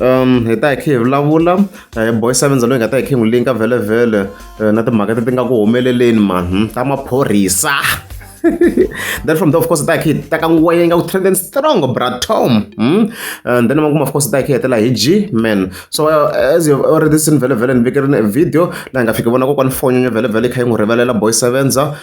um hi ta hi khe hi vulavula eh, boy sevenza loyi hi nga ta hi khe hi n'wi linka vhelevhele eh, na timhaka ti ti nga ku humeleleni mani ta maphorisa then from there of course hi ta hi khe hi teka ngwenya yi nga ku trending strong bratom hmm? and then makumu of course hi ta hi khe hi hetela hi g man so uh, as you've already seen vhelevhele ni vikerini video laha hi nga fiki vona kokwani fonyenyo vhelevhele yi kha yi n'wi rivalela boy sevenza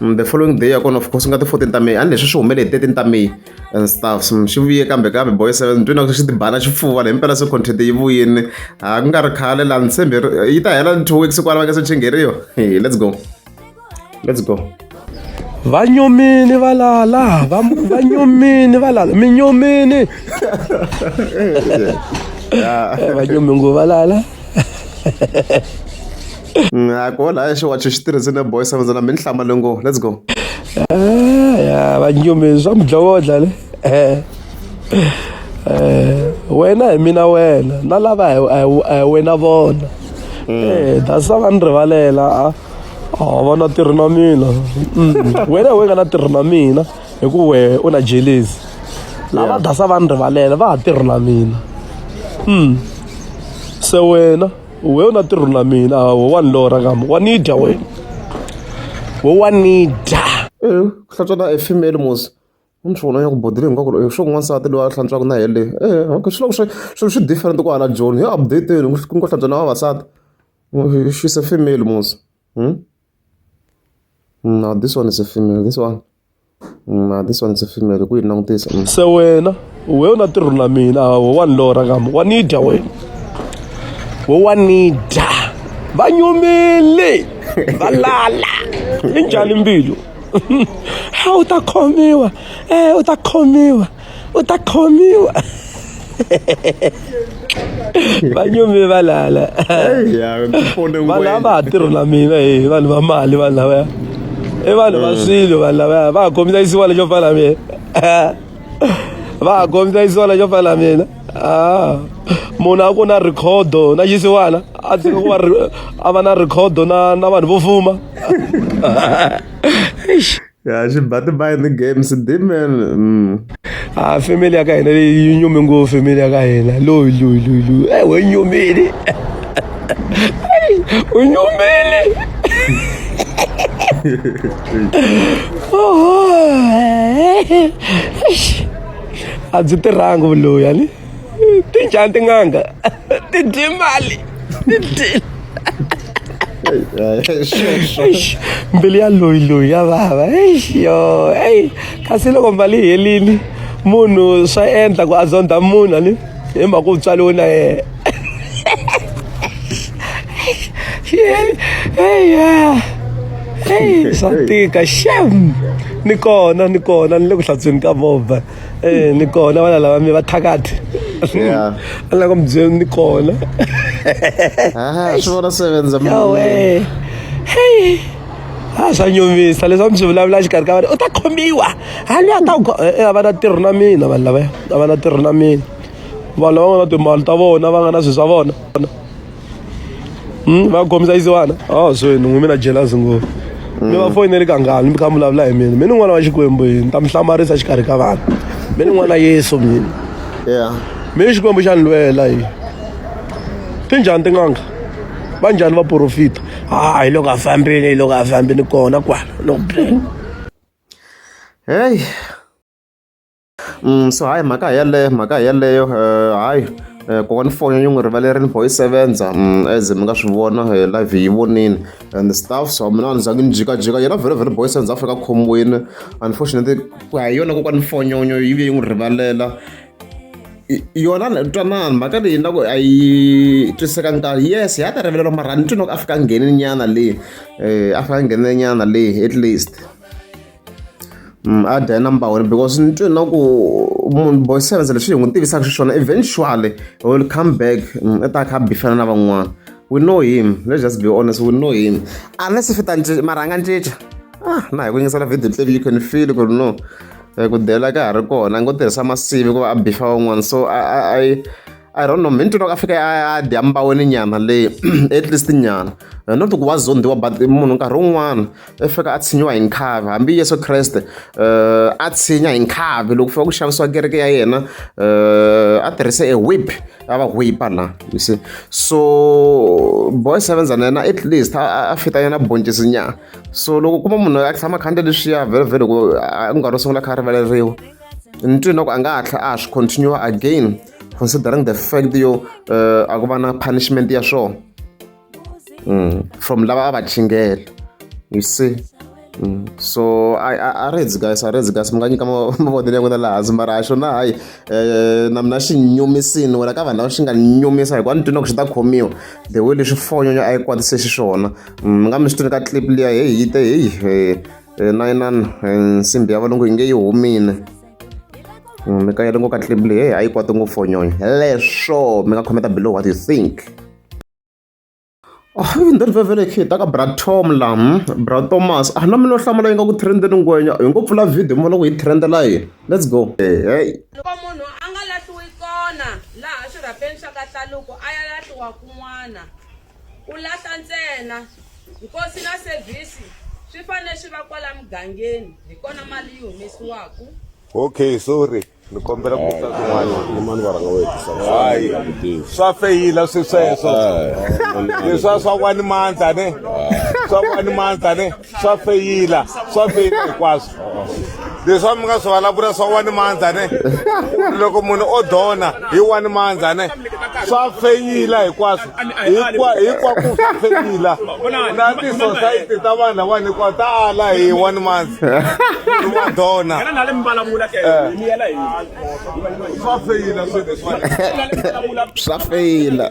Mm, the following day ya kona of course nga ti fourteen ta may a ni leswi swi humele hi thirteen ta may and stuff so swi vuye kambe kambe boy seven ni twina swi tibana xifuva leyi mpela se content yi vuyini ha ku nga ri khale laha ni tshembe yi ta hela two weeks kwala va nga se chingeriwa hey let's go let's go va nyomini va lala va nyomini va lala mi nyomini va nyomi ngo va lala a ku hola xo wacho xi tirhisile boy seven na mi ni hlamba lengo let's go ya vanyumi swa mudlowodla le wena hi mina wena na lava hi wena vona that's va ni rivalela a vona tirhi na mina wena hi we nga na tirhi na mina hi ku we u na jelesi lava dasa va ni rivalela va ha tirhi na mina se wena we u na tirhu na mina a wo wa ni lora kama wa ni dya wena wo wa ni dya Eh, ku hlantswa na a female mos ni swi vona ya ku bodile hinkwako eh, swo ku n'wansati loyi a hlantswaka na yele eh, okay, swi loko swi swilo swi different ku hala joni hi updateni ku ku hlantswa na vavasati Eh, she's a female mos hmm? no this one is a female this one Ma this one ndzi fimele ku yi langutisa. Se wena we u na tirho na mina hawo wa ni lora ngam wa ni dya wena. We wa ni dya. Va nyumile va lala. I njhani mbilu? Ha u ta khomiwa eh u ta khomiwa. u ta khomiwa va nyumi va lala vanhu lava ha tirho na mina hi vanhu va mali vanhu lavaya i vanhu va mm. swilo vanhu lavaya va ha khomisa isiwa lexo fana na mina va ha khomisa isiwa lexo fana na mina ah. munhu a ku na rikhodo na xisiwana a tshika ku va a va na rikhodo na na vanhu vo fuma ya xi ba tibayi ni games dimen mm. a ah, family ya ka hina leyi yi nyumi ngopfu family ya ka hina loyi loyi loyi loyi e we nyumile u nyumile a byi tirhangi vuloyi ani ti njhani tin'anga ti dye mali ti dyile mbilu ya loyi loyi ya vava yo eyi kasi loko mali yi helini munhu swa endla ku a zondha munhu ani hi mhaka ku tswaliwe na yena swa tika xem ni kona ni kona ni le ku hlantsweni ka movha eh ni kona vana lava mi va thakati Yeah. a lava ku mi byela ni kona Aha, swi vona sevenza mi. yawe hey a swa nyumisa leswi a mi swi vulavula xikarhi ka vana u ta khomiwa ha loyi a ta ku go- eh, eh, a va na tirho na mina vanhu lavaya a va na tirho na mina vanhu lava nga na timali ta vona va nga na swilo swa vona Hmm, va khomisa yisi vana a ah, swi ni n'wi mi na jealous ngopfu mi va foyineli kangani mi kha mi vulavula hi mina mi ni n'wana wa xikwembu yini ta mi hlamarisa xikarhi ka vana mi ni n'wana yesu mina yeah mi xikwembu xa ni lwela yi ti njhani tin'anga va njhani va porofita ha ah, hi loko a fambile hi loko a fambile kona kwala loko heyi Mm, so hayi mhaka yaleyo mhaka yaleyo eh, hayi eh, kokwana foni yi n'wi rivalerile boy yi sevenza mm, as mi nga swi vona eh, live yi vonile and stuff so mina a ni zangi ni jikajika yena very very boy sevenza afrika khomwini unfortunately ku ya hi yona kokwana fonyonyo yi vuye yi n'wi rivalela yona twanana mhaka leyi na ku a yi twiseka nkarhi yes ya ta rivelelo mara ni twi no ku a fika ngheni nyana leyi um a fika ngheni nyana leyi at least Mm, a dya number one because ni twe na ku munhu boy sevens leswi hi n'wi tivisaka xiswona eventually he will come back mm, i ta kha bifana na van'wana we know him let's just be honest we know him unless if ta mara a nga ncinca ah na hi ku yingisela video tlevi you can feel ku ri no eh, ku dela ka ha ri kona a ngo tirhisa masivi ku va a bifa van'wana so i I don't know mintwini loko a fika a dya mbaweni nyana leyi at least nyana eh, not ku wa zondiwa but munhu nkarhi wun'wana u fika a tshinyiwa hi nkhavi hambi yesu kreste um a tshinya hi nkhavi loko fika ku xavisiwa kereke ya yena um a tirhise e wip a va wipa la you see so boy sevenza na yena at least a fita yena boncisi nyana so loko kuma munhu a tshama khanda leswiya vhelovhe loko a nkarhi wo sungula kha a rivaleriwa ni twi na ku a nga hatla a swi continue again considering the fact yo um a ku va na punishment ya swona mm. from lava a va chingela you see Mm. so a ri hedzi kasi a ri hedzi kasi mi nga nyika mavonelo ya n'wina laha hansi mara xo na hayi um na mina xi nyumisini wena ka vanhu lava xi nga nyumisa hikuva ni twini ku xi ta khomiwa the way leswi fonyo a yi kwatise xiswona mi mm, nga mi swi twini ka clip liya heyi yi te heyi eh, eh, na inani eh, nsimbi ya valungu yi nge yi humile mm, mi ka yele ngo ka clip leyi heyi a yi kwati ngopfu fonyonyo leswo mi nga khometa below what you think Hi the very very kid ta ka bra Tom la hmm? bra Thomas a na mina hlamula yi nga ku trend ni ngwenya hi ngo pfula video mi vona ku hi trend la yini let's go hey loko munhu a nga lahliwi kona laha swirhapeni swa ka hlaluko a ya lahliwa kun'wana u lahla ntsena nkosi na service swi fanele swi va kwala mugangeni hi kona mali yi humesiwaku okay sorry ni kombela ku ta kun'wanyimani varhanga wo hetisahayi swa feyila swi sweswo leswa swa kwani mandza ne swa kwani mandza ne swa feyila swa feyila hinkwaswo leswi mi nga swi vulavula swa wani mandza ne loko munhu o dona hi wani mandza ne swa feyila hinkwaswo hikwa hikwa ku feyila na tisosayiti ta vanhu lawani hikwa ta ala hi one month wa dona swa feyila swilo swa feyila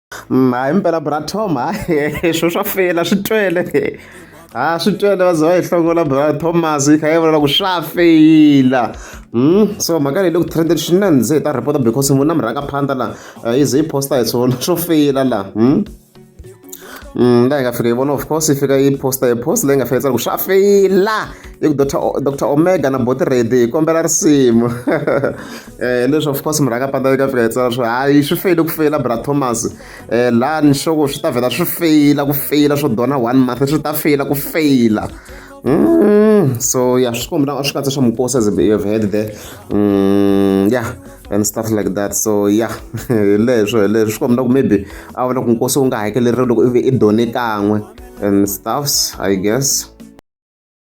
hayi mpela bratom hayi swo swa feyila swi twele ha swi twele va ze va yi hlongola bra thomas yi kha yi vulela ku swa feyila Hmm? so mhaka leyi le ku trended swinene ze hi ta report because munhu na murhanga phanda la eh, yi ze yi posta hi swona swo feyila la hmm? hmm la hi nga fika yi vona of course yi fika yi posta yi post leyi nga fika yi tsala ku swa feyila yi ku dr omega na boti redi hi kombela risimu Eh, leswi of course murhaka pata eka fika hi tsala swo hayi swi feyile ku feyila bra thomas eh, laha ni xoko swi ta vhela swi feyila ku feyila swo dona one month swi ta feyila ku feyila Mm, so yeah, swi kombi na swi katsa swa mukosi as you've heard there mm, yeah and stuff like that so yeah leswo leswo swi kombi na ku maybe a vona ku nkosi wu nga hakeleriwi loko ivi i done kan'we and stuffs i guess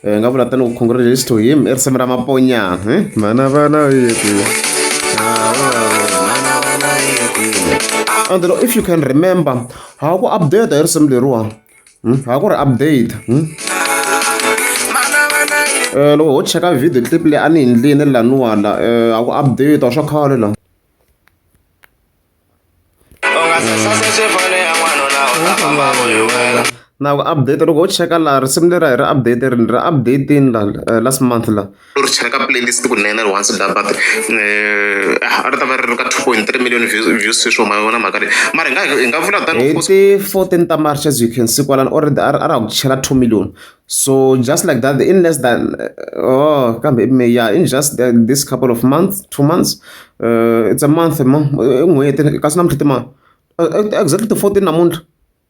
Eh, nga vula tanihi congratulations to him i risimu ra maponya eh? mana vana yeku and if you can remember ha ku update hi risimu leriwa hmm? ha ku ri update hmm? eh, loko ho cheka video clip leyi a ni hi ndlini laniwala eh, ha ku update swa khale la na ku update loko u cheka laha risimu leri a hi ri update ri ri updatini la eh, last month la u ri cheka playlist kunene ri once dabat eh, a ri ta va ri ri ka two point three million views sweswo ma vona mhaka leyi mara hi nga hi nga vula tani hi ti fourteen ta march as you can see kwalani already a ri a ri ha ku chela two million So just like that, in less than uh, oh, yeah, in just the, this couple of months, two months, uh, it's a month, a month, uh, uh, exactly the 14 amount.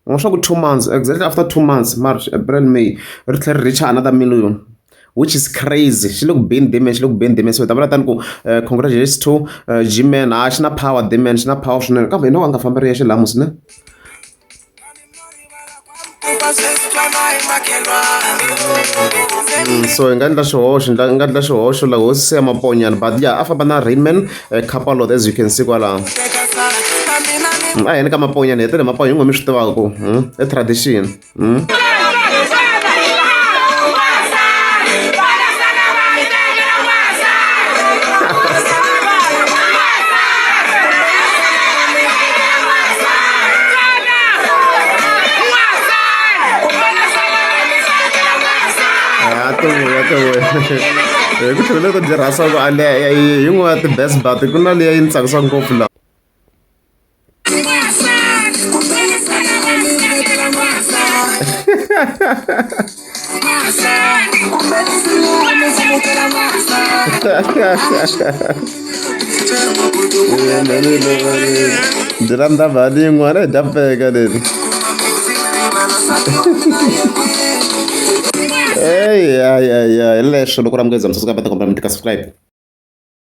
Ngosho two months, exactly after two months, March, April, May, it reach another million. which is crazy xi le ku beni deman xi le ku beni deman so hi ta vula tani ku eh, congratulations to eh, gman a ah, xi na power deman xi na power swinene kambe hi no a nga fambi ri yexe laha musine Mm, so hi nga endla xihoxo hi nga endla xihoxo la hosi se ya maponyana but ya a famba na rainman eh, capalot as you can see kwalaho mm, a heni ka maponyana hi tele maponya hi ngo mi swi tivaku mm, i tradition hi ku tlhela ku tirhasa ku aleya hi yin'wana ya ti-best bat ku na leyi yi ni tsakisa ngopfu laha byi ra ndava lin'we ra hi dya pfeka leri eyi hayi hayi hayi leswo loko ra munghezi msasukabata kombela mi ti ka subscribe